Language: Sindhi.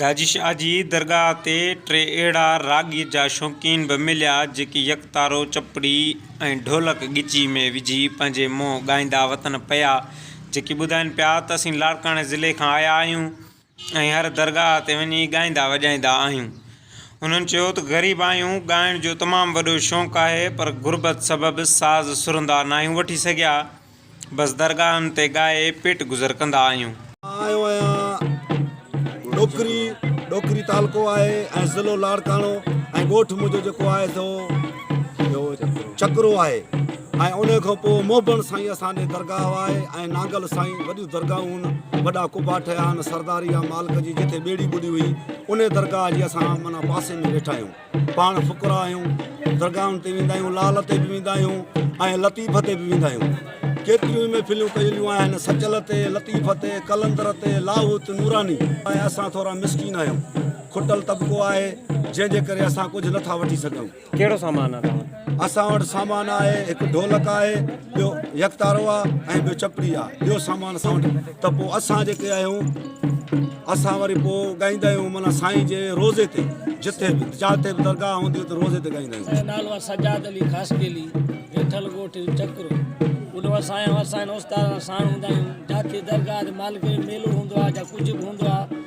گاجي شاهه جي درگاهه تي ٽي اهڙا راڳي جا شوقين به مليا جيڪي يڪتارو، چپڙي ۽ ڍولڪ ڳچي ۾ وجهي پنهنجي منهن ڳائيندا وتن پيا جيڪي ٻڌائين پيا ته اسين لاڙڪاڻي ضلعي کان آيا آهيون ۽ هر درگاهه تي وڃي ڳائيندا وڄائيندا آهيون. هنن چيو ته غريب آهيون ڳائڻ جو تمام وڏو شوق آهي پر غربت سبب ساز سرندا ناهيون وٺي سگهيا، بس درگاهن تي ڳائي پيٽ گذر ڪندا آهيون. مان آيو آهيان ڏوڪري، ڏوڪري تعلقو آهي ۽ ضلعو لاڙڪاڻو ۽ ڳوٺ منهنجو جيڪو آهي سو ڇڪرو آهي ۽ انهي کان پوء موبڻ سائين اسان ڏي درگاهه آهي ۽ نانگل سائين وڏيون درگاهون هن وڏا قبا ٺهيا هن سرداري يا مالڪ جي جتي ٻيڙي ٻڏي هئي انهي درگاهه جي اسان معنيٰ پاسي ۾ ويٺا آهيون. پاڻ فقراء آهيون، درگاهن تي ويندا آهيون، لعل تي به ويندا آهيون ۽ لطيف تي به ويندا آهيون. ڪيتريون ئي محفليون ڪيليون آهن، سچل تي، لطيف تي، قلندر تي، لاهوت، نوراني. ۽ اسان ٿورا مسڪين آهيون، کٽل طبقو آهي، جنهن جي ڪري اسان ڪجهه نه ٿا وٺي سگهون. ڪهڙو سامان آهي توهان وٽ؟ اسان وٽ سامان آهي، هڪ ڍولڪ آهي. ٻيو يڪتارو آ ۽ ٻيو چپڙي آ ٻيو سامان اسان وٽ ته پوء اسان جيڪي آهيون اسان وري پوء ڳائيندا آهيون معنيٰ سائين جي روزي تي جتي به جاٿي به درگاهه هوندي هو ته روزي تي ڳائيندا آهيون. منهنجو نالو آهي سجاد علي خاصخيلي ويٺل ڳوٺ چڪرو ان وٽ سائين اسان هن استاد سان ساڻ هوندا آهيون جاٿي درگاهه تي مالڪي جو ميلو هوندو آهي جا ڪجهه به هوندو آهي